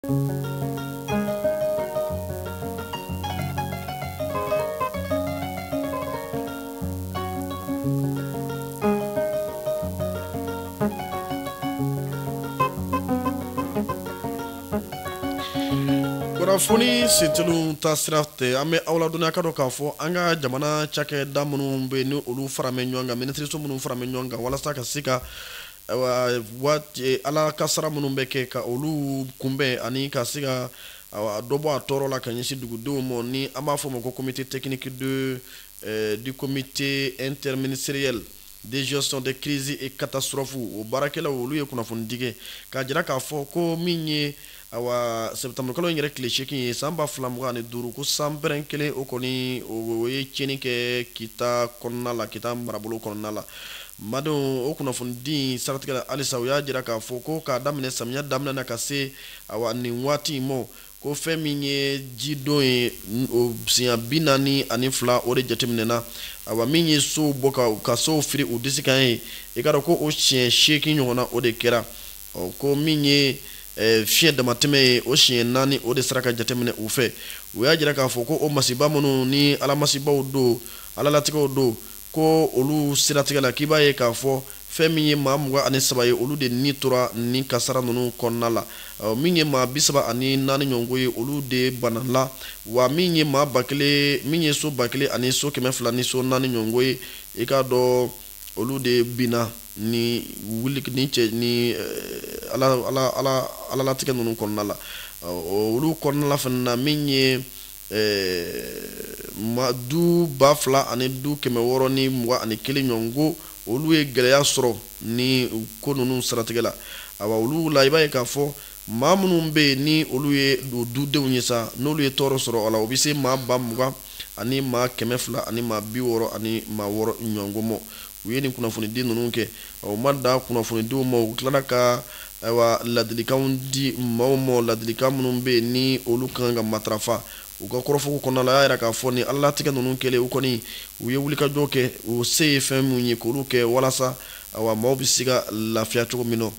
kunnafoni sentelin ta siratɛ an bɛ aw ladɔnniya k'a dɔn k'a fɔ an ka jamana cakɛda minnu bɛ ni olu faralen ɲɔgɔn kan minisiriso minnu faralen ɲɔgɔn kan walasa ka se ka ala kasara minnu bɛ kɛ ka olu kunbɛn ani ka se ka dɔ bɔ a tɔɔrɔ la ka ɲɛsin dugudenw ma ni an b'a fɔ o ma ko comité technique de du comité interministériel de gestion de crise et catastrophe o baarakɛlaw olu ye kunnafonidi kɛ k'a jira k'a fɔ ko min ye Ayiwa sɛtanburukalo in yɛrɛ tile seegin ye san ba fila mugan ni duuru ko sanpɛrɛn kelen o kɔni o ye tiɲɛni kɛ kita kɔnɔna la kita marabolo kɔnɔna la madenw o kunnafonidi siratigɛ halisa u y'a jira k'a fɔ ko k'a daminɛ samiya daminɛ na ka se a nin waati in ma ko fɛn min ye jidon ye siɲɛ bi naani ani fila o de jateminɛna min ye sow bɔ ka sow firi u disi kan ye i k'a dɔn ko o siɲɛ seegin ɲɔgɔnna o de kɛra ɔ ko min ye eh, fiɲɛ damatɛmɛ ye o siɲɛ naani o de sera ka jateminɛ u fɛ u y'a jira k'a fɔ ko o masiba minnu ni alamasibaw don alalatigɛw don ko olu siratigɛ la k'i b'a ye k'a fɔ fɛn min ye maa mugan ani saba ye olu de ni tora nin kasara ninnu kɔnɔna la min ye maa bisaba ani naani ɲɔgɔnko ye olu de banala wa min ye maa ba kelen min ye so ba kelen ani so kɛmɛ fila ni so naani ɲɔgɔnko ye i k'a dɔn olu de binna ni wuli ni cɛ ni eh, ala ala ala alalatigɛ ninnu kɔnɔna la olu kɔnɔna la fana na min ye eh, ma du ba fila ani du kɛmɛ wɔɔrɔ ni mugan ani kelen ɲɔgɔnko olu ye gɛlɛya sɔrɔ nin ko ninnu siratigɛ la awa olu la i b'a ye k'a fɔ maa minnu bɛ yen ni olu ye o dudenw ye sa n'olu ye tɔɔrɔ sɔrɔ a la o bɛ se maa ba mugan ani maa kɛmɛ fila ani maa bi wɔɔrɔ ani maa wɔɔrɔ ɲɔgɔn ma u ye nin kunnafonidi ninnu kɛ u ma dan kunnafonidiw ma u tilala ka ayiwa ladilikanw di maaw ma ladilikan minnu bɛ yen ni olu kan ka matarafa u ka kɔrɔfɔko kɔnɔna la y'a jira k'a fɔ ni alalatigɛ ninnu kɛlen u kɔni u ye wulikajɔ kɛ u se ye fɛn minnu ye k'olu kɛ walasa ayiwa maaw bɛ se ka lafiya cogo min na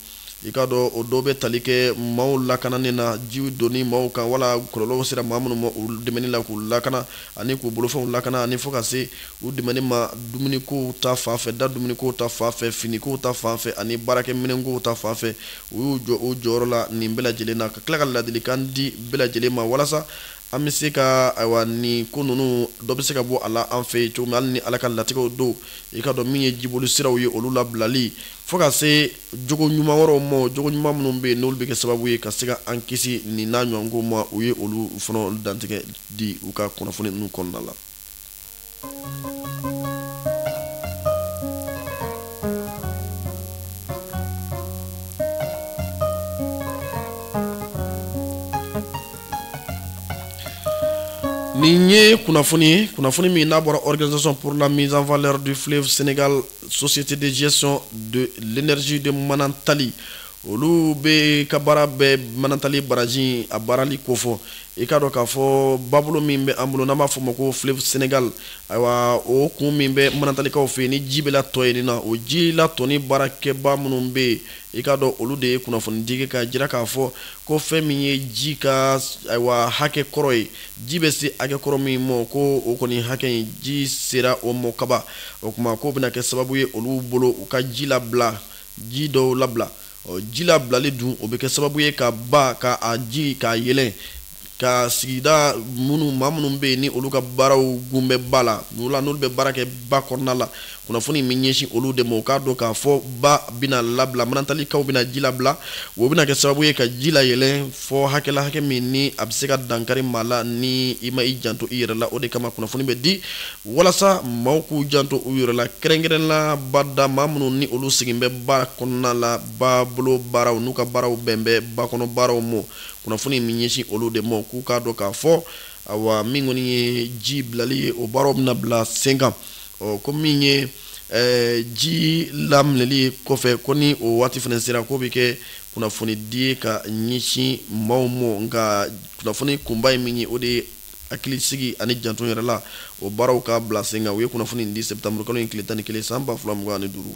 i k'a dɔn o dɔ bɛ tali kɛ maaw lakanani na jiw donni maaw kan wala kɔlɔlɔw sera maa minnu ma u dɛmɛni la k'u lakana ani k'u bolofɛnw lakana ani fo ka se u dɛmɛni ma dumunikow ta fan fɛ da dumunikow ta fan fɛ finikow ta fan fɛ ani baarakɛminɛnkow ta fan fɛ u y'u jɔ u jɔyɔrɔ la nin bɛɛ lajɛlen na ka tila ka ladilikan di bɛɛ lajɛlen ma walasa an bɛ se ka ayiwa nin ko ninnu dɔ bɛ se ka bɔ a la an fɛ yen cogo min hali ni ala ka latigɛw don i k'a dɔn min ye jiboli siraw ye olu labilali fo ka se jogo ɲuman wɛrɛw ma o jogo ɲuman minnu bɛ yen n'olu bɛ kɛ sababu ye ka se ka an kisi nin n'a ɲɔgɔnko ma u ye olu fana dantigɛ di u ka kunnafoni ninnu kɔnɔna la nin ye kunnafoni ye kunnafoni min n'a bɔra organisation pour la mise en valeur du fleuve Sénégal Société de gestion de l'énergie de Manantali olu bɛɛ ka baara bɛ Manantali baraji a baarali kofɔ i k'a dɔn k'a fɔ babolo min bɛ an bolo n'an b'a fɔ o ma ko fleuve Sénégal ayiwa o kun min bɛ Manantalikaw fɛ yen ni ji bɛ latɔn yen nɔ o ji latɔnni baarakɛbaa minnu bɛ yen i k'a dɔn olu de ye kunnafoni di k'a jira k'a fɔ ko fɛn min ye ji ka ayiwa hakɛ kɔrɔ ye ji bɛ se hakɛ kɔrɔ min mɔ ko o kɔni hakɛ in ji sera o mɔ kaban o tuma k'o bɛna kɛ sababu ye olu bolo u ka ji labila ji dɔw labila ji labilali dun o bɛ kɛ sababu ye ka ba ka a ji k'a yɛlɛn ka sigida minnu maa minnu bɛ yen ni olu ka baaraw kun bɛ ba la n'u la n'olu bɛ baara kɛ ba kɔnɔna la kunnafoni min ɲɛsin olu de ma u k'a dɔn k'a fɔ ba bɛna labila Manantalikaw bɛna ji labila o bɛna kɛ sababu ye ka ji layɛlɛn fɔ hakɛ la hakɛ min ni a bɛ se ka dankari maa la ni i ma i janto i yɛrɛ la o de kama kunnafoni bɛ di walasa maaw k'u janto u yɛrɛ la kɛrɛnkɛrɛn la bada maa minnu ni olu sigin bɛ ba kɔnɔna la babolo baaraw n'u ka baaraw bɛn bɛ ba kɔnɔ baaraw ma kunnafoni min ɲɛsin olu de ma k'u k'a dɔn k'a fɔ awa min kɔni ye ji bilali ye o baaraw bɛna bila sen kan ɔ ko min ye eh, ji laminɛli kɔfɛ ko ni o waati fana sera k'o bɛ kɛ kunnafoni di ka ɲɛsin maaw ma nka kunnafoni kunba ye min ye o de ye hakilisigi ani janto yɛrɛ la o baaraw ka bila sen kan u ye kunnafoni in di septembre kalo in tile tan ni kelen san ba fila mugan ani duuru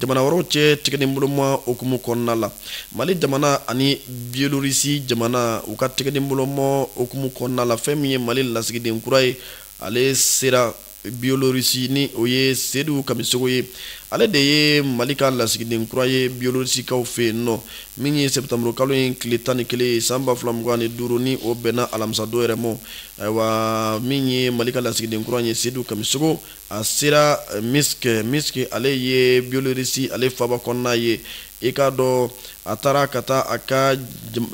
jamana wɛrɛw cɛ tigɛdenboloma hukumu kɔnɔna la mali jamana ani bielorisi jamana u ka tigɛdenboloma hukumu kɔnɔna la fɛn min ye mali lasigiden kura ye ale sera bielorisi ni o ye sedu kamisogo ye ale de ye mali ka lasigiden kura ye bielorisikaw fɛ yen nɔ min ye septembre kalo in tile tan ni kelen ye san ba fila mugan ni duuru ni o bɛnna alamisadon yɛrɛ ma ayiwa min ye mali ka lasigiden kura ye sedu kamisogo a sera eh, Minsk Minsk ale ye biolorisi ale faba kɔnɔna ye i k'a dɔn a taara ka taa a ka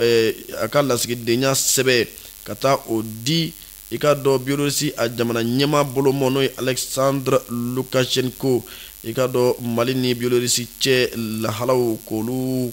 eh, a ka lasigidenya sɛbɛ ka taa o di i k'a dɔn biolorisi a jamana ɲɛmaa bolomɔ n'o ye alexandre lukashenko i k'a dɔn mali ni biolorisi cɛ lahalaw k'olu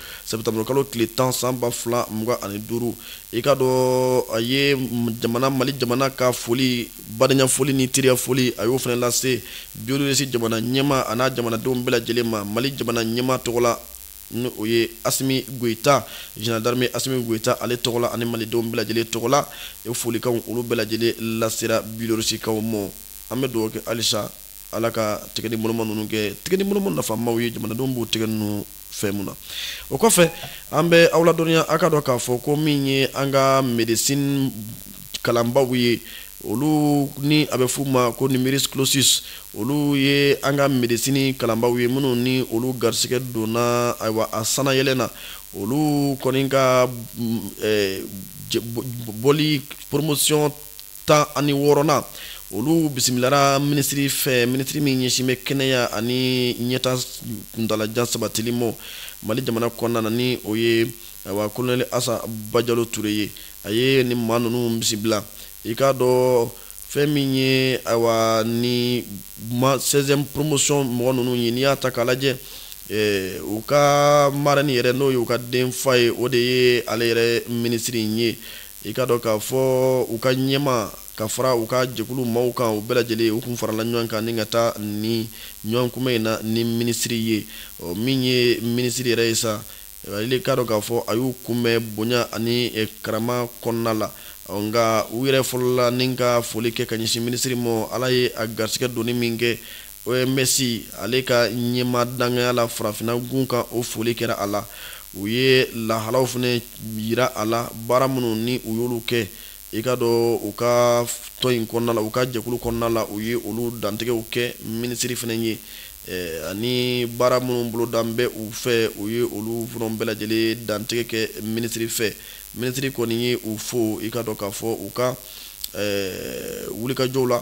sɛtanburu kalo tile tan san ba fila mugan ani duuru i ka dɔn a ye jamana mali jamana ka foli badenya foli ni teriya foli a y'o fana lase biyelorisi jamana ɲɛmaa an'a jamanadenw bɛɛ lajɛlen ma mali jamana ɲɛmaa tɔgɔ la ni o ye asimi goyita jenerali darime asimi goyita ale tɔgɔ la ani malidenw bɛɛ lajɛlen tɔgɔ la e folikanw olu bɛɛ lajɛlen lasera biyelorisikaw mɔ an bɛ dugawu kɛ halisa ala ka tigɛ ni boloma ninnu kɛ tigɛ ni boloma nafamaw ye jamanadenw b'u tigɛ ninnu fɛn mun na o kɔfɛ an bɛ aw ladɔnniya aw k'a dɔn k'a fɔ ko min ye an ka médecine kalanbaaw ye olu ni a bɛ f'u ma ko numerus clausus olu ye an ka médecine kalanbaaw ye minnu ni olu garisigɛ donna ayiwa a sanayɛlɛn na olu kɔni ka mm, eh, bɔli promotion tan ani wɔɔrɔnan olu bisimilara minisiri fɛ minisiri min ɲɛsin bɛ kɛnɛya ani ɲɛtaa kuntaalajan sabatili mɔ mali jamana kɔnɔna na ni o ye awa kolonɛli asa bajalo ture ye a ye ni maa ninnu bisimila i k'a dɔn fɛn min ye ayiwa ni ma sɛziyɛmu poromosɔn mɔgɔ ninnu ye n'i y'a ta k'a lajɛ eh, u ka marɛni yɛrɛ n'o ye u ka denfa ye o de ye ale yɛrɛ minisiri in ye i ka dɔn k'a fɔ u ka ɲɛmaa ka fara u ka jɛkulu maaw kan u bɛɛ lajɛlen u tun farala ɲɔgɔn kan ni ka taa ni ɲɔgɔnkunbɛn in na ni minisiri ye ɔ min ye minisiri yɛrɛ ye sa ale i k'a dɔn k'a fɔ a y'u kunbɛn bonya ani eh, karama kɔnɔna la ɔ nka u yɛrɛ fɔlɔla ni ka foli kɛ ka ɲɛsin minisiri ma ala ye a garisigɛ donni min kɛ OMS ale ka ɲɛmaa dankanya la farafinna gun kan, o foli kɛra a la. U ye lahalaw fana jira a la, baara minnu ni u y'olu kɛ, i ka dɔn u ka tɔn in kɔnɔna la, u ka jɛkulu kɔnɔna la, u ye olu dantigɛw kɛ minisiri fana ye, ani baara minnu bolodalen bɛ u fɛ, u ye olu fana bɛɛ lajɛlen dantigɛ kɛ minisiri fɛ. Minisiri kɔni ye u fo, i ka dɔn k'a fɔ u ka wulikajɔw la.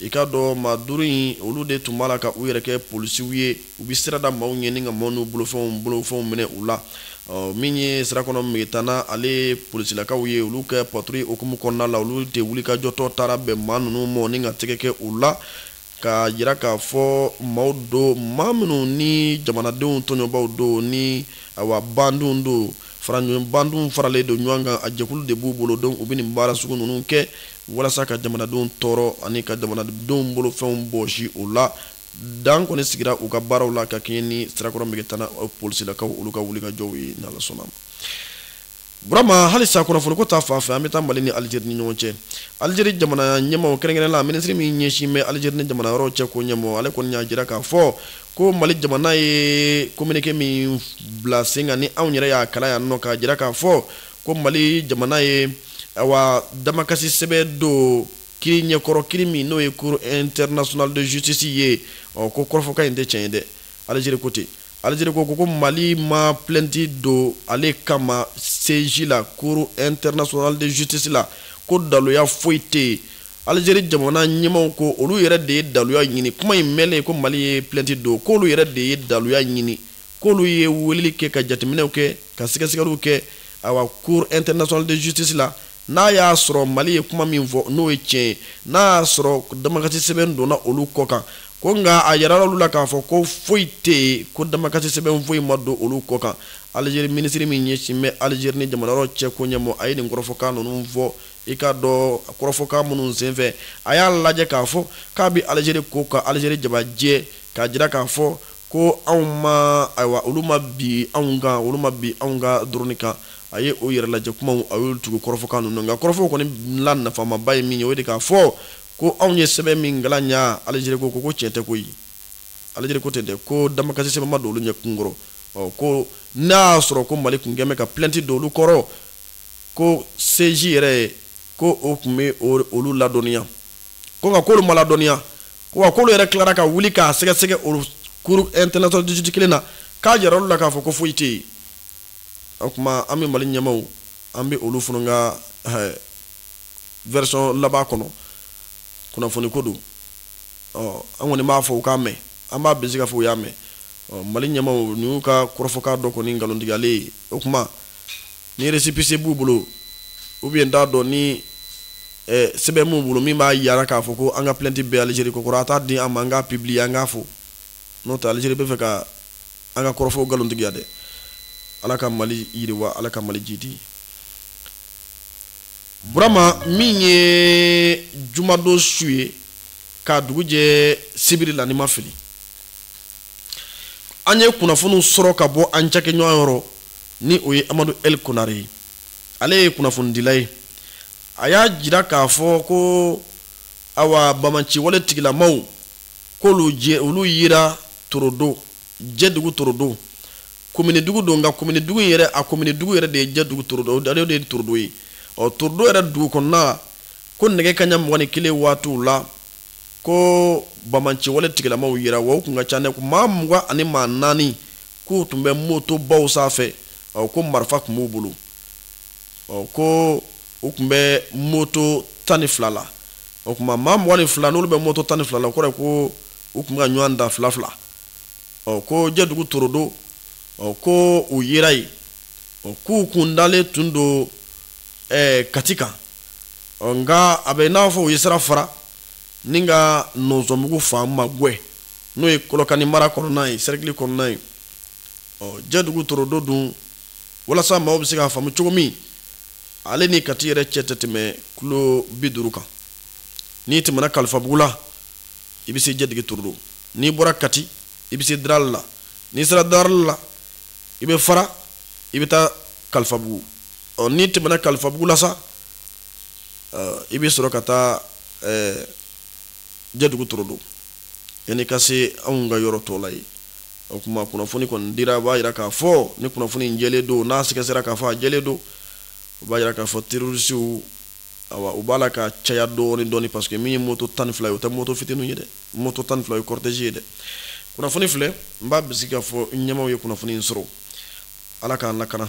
i ka dɔn maa duuru in olu de tun b'a la ka u yɛrɛ kɛ polisiw ye u bɛ sira da maaw ɲɛ ni ka maaw n'u bolofɛnw bolofɛnw minɛ u la min ye sirakɔrɔ megetana ale polisilakaw ye olu ka paturuyi hukumu kɔnɔna la olu de wulikajɔtɔ taara bɛn maa ninnu mɔ ni ka tɛgɛ kɛ u la ka jira k'a fɔ maaw don maa minnu ni jamanadenw tɔɲɔbaaw don ni awa bandiw don Bandiw faralen don ɲɔgɔn kan a jɛkulu de b'u bolo donc u bɛ nin baara sugu ninnu kɛ walasa ka jamanadenw tɔɔrɔ ani ka jamanadenw bolofɛnw bɔsi u la dan kɔni sigira u ka baaraw la ka kɛɲɛ ni sirakɔrɔ megetana polisilakaw olu ka wulikajɔw ye n'ala sɔnna burama halisa kunnafoniko ta fan fɛ an bɛ taa mali ni alizeri ni ɲɔgɔn cɛ alizeri jamana ɲɛmɔgɔ kɛrɛnkɛrɛnnenya la minisiri min ɲɛsin bɛ alizeri ni jamana wɛrɛw cɛ ko ɲɛmɔgɔ ale kɔni y'a jira k'a fɔ ko mali jamana ye kominike min bila sen kan ni anw yɛrɛ y'a kalan yan nɔ k'a jira k'a fɔ ko mali jamana ye awa damakasi sɛbɛn don kiri ɲɛkɔrɔ kiri min n'o ye cour international de justice ye ɔ ko kɔrɔfɔkan in tɛ tiɲɛ ye dɛ alizeri ko ten alizeri ko ko mali ma plɛnti don ale kama seji la cour international de justice la ko daluya foyi tɛ yen Alizeri jamana ɲɛmaw ko olu yɛrɛ de ye daluya ɲini kuma in mɛnlen ko mali ye plɛnti don k'olu yɛrɛ de ye daluya ɲini k'olu ye weleli kɛ ka jateminɛw kɛ ka sɛgɛsɛgɛliw kɛ awa cour international de justice la n'a y'a sɔrɔ mali ye kuma min fɔ n'o ye tiɲɛ ye n'a y'a sɔrɔ damakasi sɛbɛn donna olu kɔ kan ko nka a yirala olu la k'a fɔ ko foyi tɛ yen ko damakasi sɛbɛn foyi ma don olu kɔ kan alizeri minisiri min ɲɛsin bɛ alizeri ni jamana wɛrɛw cɛ ko ɲɛmɔgɔ a ye nin kɔrɔfɔkan ninnu fɔ I ka dɔn kɔrɔfɔkan minnu senfɛ a y'a lajɛ k'a fɔ k'a bɛ alizeri ko ka alizeri jabajɛ k'a jira k'a fɔ ko anw ma ayiwa olu ma bin anw kan olu ma bin anw ka drone kan a ye o yɛrɛ lajɛ kumaw a y'olu tugu kɔrɔfɔkan ninnu nka kɔrɔfɔw kɔni la nafamaba ye min ye o de k'a fɔ ko anw ye sɛbɛn min kalan yan alizeri ko ko ko tiɲɛ tɛ koyi alizeri ko ten dɛ ko damakasi sɛbɛn ma don olu ɲɛ kunkɔrɔ ɔ ko n'a y'a sɔrɔ ko mali tun kɛlen bɛ ka plɛnti don olu kɔrɔ ko seji yɛrɛ ko o tun bɛ olu ladɔnniya ko nka k'olu ma ladɔnniya wa k'olu yɛrɛ tilara ka wuli k'a sɛgɛsɛgɛ o cour international de justice kelen na k'a jira olu la k'a fɔ ko foyi tɛ yen o tuma an bɛ mali ɲɛmaw an bɛ olu fana ka version laban kɔnɔ kunnafoni ko don ɔ an kɔni b'a fɔ u k'a mɛn an b'a bisigi k'a fɔ u y'a mɛn mali ɲɛmaw ninnu ka kɔrɔfɔkan dɔ kɔni nkalontigiyalen ye o tuma ni récépissé b'u bolo ou bien t'a dɔn ni eh, sɛbɛn b'u bolo min b'a yira k'a fɔ ko an ka plɛnti bɛ alizeri kunkɔrɔ a t'a di an ma an k'a pibiliye an k'a fɔ n'o tɛ alizeri bɛ fɛ ka an ka kɔrɔfɔw nkalontigiya dɛ ala ka mali yiriwa ala ka mali jidi burama min ye jumadon su ye k'a dugu jɛ sibiri la ni n ma fili an ye kunnafoniw sɔrɔ ka bɔ an cakɛɲɔgɔn yɔrɔ ni o ye amadu el konare ye ale ye kunnafonidila ye a y'a jira k'a fɔ ko awa banbaanciwale tigilamaw k'olu ye olu yira torodo jɛdugu torodo kominidugu don nka kominidugu in yɛrɛ a kominidugu yɛrɛ de ye jɛdugu torodo ale de ye torodo ye ɔ torodo yɛrɛ dugu kɔnɔna ko nɛgɛ kaɲa mugan ni kelen waatiw la ko banbaanciwale tigilamaw yira wa u kun ka ca dɛ maa mugan ani maa naani k'u tun bɛ moto baw sanfɛ ko marifa tun b'u bolo ko u tun bɛ moto tan ni fila la o tuma maa mugan ni fila n'olu bɛ moto tan ni fila la o kɔrɔ ko u tun bɛ ka ɲɔgɔn ta fila fila ɔ ko jɛdugu torodo ɔ ko u yera yen ɔ k'u kun dalen tun don kati kan ɔ nka a bɛ n'a fɔ u ye sira fara ni ka nɔnsɔnbugu fan magwɛn n'o ye kɔlɔkani mara kɔnɔna ye sɛrikili kɔnɔna ye ɔ jɛdugu torodo dun walasa maaw bɛ se k'a faamu cogo min ale ni kati yɛrɛ cɛ tɛ tɛmɛ kilo bi duuru kan n'i tɛmɛna kalifabugu la i bɛ se jɛdugu torodo n'i bɔra kati i bɛ se darali la n'i sera darali la i bɛ fara i bɛ taa kalifabugu ɔ n'i tɛmɛna kalifabugu la sa i bɛ sɔrɔ ka taa jɛdugu torodo yan'i ka se anw ka yɔrɔ tɔw la yen o tuma kunnafoni kɔni dira a b'a jira k'a fɔ ni kunnafoni jɛlen don n'a sɛgɛsɛgɛra k'a fɔ a jɛlen don o b'a jira k'a fɔ terɔrisiw u b'a la ka caya dɔɔnin dɔɔnin paseke min ye moto tan ni fila ye o tɛ moto fitinin ye dɛ moto tan ni fila ye cortège ye dɛ kunnafoni filɛ n b'a bisigi k'a fɔ ɲɛmaaw ye kunnafoni in sɔrɔ ala k'an lakana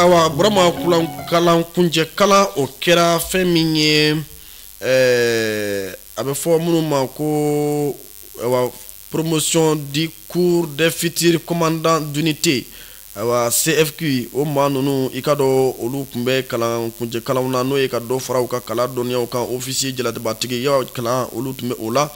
ayiwa burama kalan kuncɛ kalan o kɛra fɛn min ye a bɛ fɔ minnu ma ko awa promotion du cours des futurs commandants d'unité Ayiwa CFQ o maa ninnu i k'a dɔn olu tun bɛ kalan kuncɛ kalanw na n'o ye ka dɔ fara u ka kalan dɔnniyaw kan ofisiye jalabatigiya kalan olu tun bɛ o la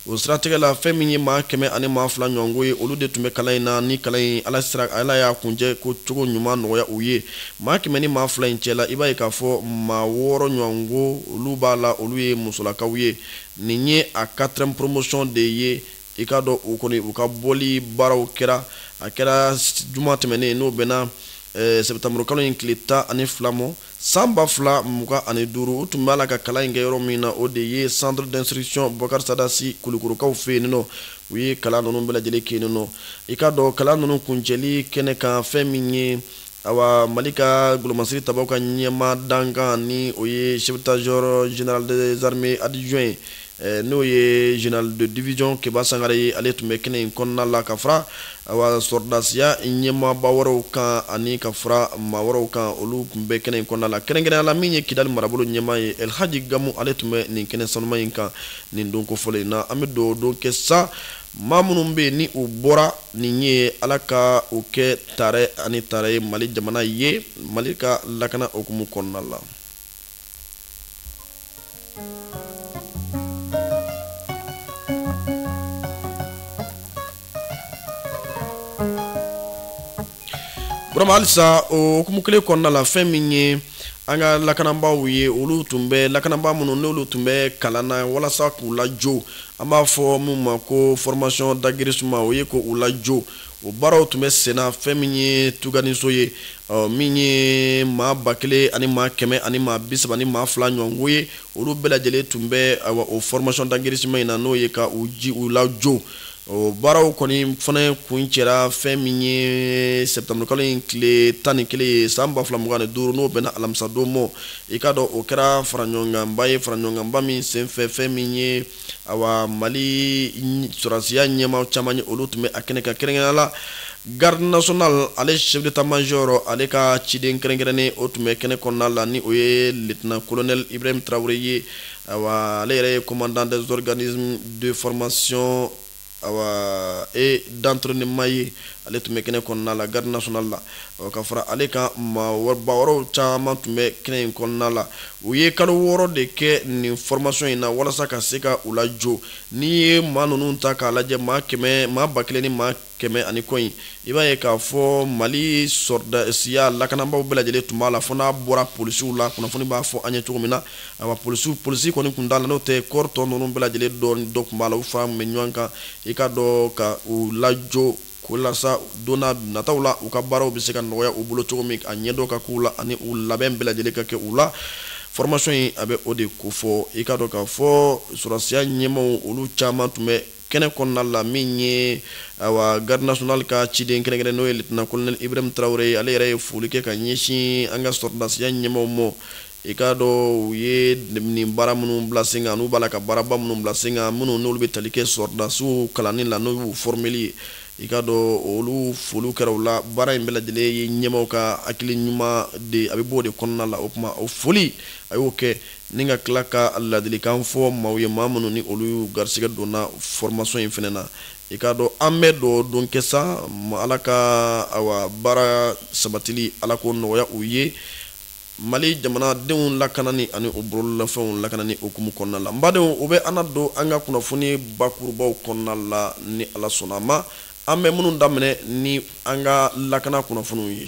o siratigɛ la fɛn min ye maa kɛmɛ ani maa fila ɲɔgɔnko ye olu de tun bɛ kalan in na ni kalan in ala y'a kuncɛ ko cogo ɲuman nɔgɔya u ye maa kɛmɛ ni maa fila in cɛla i b'a ye k'a fɔ maa wɔɔrɔ ɲɔgɔnko olu b'a la olu ye musolakaw ye nin ye a quatrième promotion de ye I k'a dɔn u kɔni u ka bɔli baaraw kɛra a kɛra juma tɛmɛnen n'o bɛnna eh, sɛbɛtanburukalo in tile tan ani fila mɔ san ba fila mugan ani duuru u tun b'a la ka kalan in kɛ yɔrɔ min na o de ye centre d'instruction boubacar sada sy kulikorokaw fɛ yen nɔ u ye kalan ninnu bɛɛ lajɛlen kɛ yen nɔ i k'a dɔn kalan ninnu kuncɛli kɛnɛ kan fɛn min ye awa mali ka golomasiri tabaw ka ɲɛmaa dankan ni o ye chef d'état-major général des armées adjoint ye eh, n'o ye général de division keba sangare ye ale tun bɛ kɛnɛ in kɔnɔna la ka fara awa sɔrɔdasiya ɲɛmaaba wɛrɛw kan ani ka fara maa wɛrɛw kan olu tun bɛ kɛnɛ in kɔnɔna la kɛrɛnkɛrɛnya la min ye kidali marabolo ɲɛmaa ye elhaji gamu ale tun bɛ nin kɛnɛ sanuman in kan nin don kofɔlen in na an bɛ dugawu don kɛ sa maa minnu bɛ yen ni u bɔra nin ye ala ka u kɛ tare ani tare ye mali jamana ye mali ka lakana hukumu kɔnɔna la halisa o hukumu kelen kɔnɔna la fɛn min ye an ka lakananbaaw ye olu tun bɛ lakananbaa minnu n'olu tun bɛ kalan na walasa k'u lajo an b'a fɔ min ma ko formation d'aguerrissement o ye ko u lajo o baaraw tun bɛ senna fɛn min ye tuganiso ye min ye maa ba kelen ani maa kɛmɛ ani maa bi saba ni maa fila ɲɔgɔnko ye olu bɛɛ lajɛlen tun bɛ o formation d'aguerrissement in na n'o ye ka u ji u lajo o baaraw kɔni fana kuncɛra fɛn min ye septembre kalo in tile tan ni kelen ye san ba fila mugan ni duuru n'o bɛnna alamisadon mɔ i k'a dɔn o kɛra faraɲɔgɔnkanba ye faraɲɔgɔnkanba min senfɛ fɛn min ye awa mali sɔrɔdasiya ɲɛmaa caman ye olu tun bɛ a kɛnɛ kan kɛrɛnkɛrɛnnenya la garde nationale ale chef d'état major ale ka ciden kɛrɛnkɛrɛnnen o tun bɛ kɛnɛ kɔnɔna la ni o ye lieutenant colonel ibrahim traore ye Awa ale yɛrɛ ye commandant des organismes de formation awa et d'entraînement ye ale tun bɛ kɛnɛ kɔnɔna la garde nationale la ɔ ka fara ale kan maaba wɛrɛw caman tun bɛ kɛnɛ in kɔnɔna la u ye kalo wɔɔrɔ de kɛ nin formation in na walasa ka se ka u lajo n'i ye maa ninnu ta k'a lajɛ maa kɛmɛ maa ba kelen ni maa kɛmɛ ani kɔ in i b'a ye k'a fɔ mali sɔrɔdasiya lakananbaaw bɛɛ lajɛlen tun b'a la fo n'a bɔra polisiw la kunnafoni b'a fɔ an ye cogo min na awa polisiw polisi kɔni tun t'a la n'o tɛ corps tɔ ninnu bɛɛ lajɛlen dɔɔni dɔ tun b'a la u faralen bɛ ɲɔgɔn kan i k'a dɔn ka u lajo walasa don nataw la u ka baaraw bɛ se ka nɔgɔya u bolo cogo min a ɲɛdɔn ka k'u la ani u labɛn bɛɛ lajɛlen ka kɛ u la formation in a bɛ o de kofɔ i k'a dɔn k'a fɔ sɔrɔdasiya ɲɛmaaw olu caman tun bɛ kɛnɛ kɔnɔna la min ye awa garde nationale ka ciden kɛrɛnkɛrɛnnen n'o ye lieutenant colonel ibrahim traore ye ale yɛrɛ ye foli kɛ ka ɲɛsin an ka sɔrɔdasiya ɲɛmaaw mɔ i k'a dɔn u ye nin baara minnu bila sen kan n'u b'a la ka baaraba minnu bila sen kan minnu n'olu bɛ tali kɛ sɔrɔdasiw kalanni la n'o y'u formeli ye i k'a dɔn olu foliw kɛra u la baara in bɛɛ lajɛlen ye ɲɛmaaw ka hakili ɲuman de a bɛ bɔ o de kɔnɔna la o tuma o foli a y'o kɛ Ni ka tila ka ladilikan fɔ maaw ye maa minnu ni olu garisɛgɛ donna formation in fana na, i k'a dɔn an bɛ dugawu don kɛ sa Ala ka awa baara sabatili Ala k'o nɔgɔya u ye Mali jamanadenw lakanani ani u bololafɛnw lakanani hukumu kɔnɔna la. N badenw, o bɛ an na don an ka kunnafoni bakurubaw kɔnɔna la ni Ala sɔnna a ma, an bɛ minnu daminɛ ni an ka lakana kunnafoniw ye.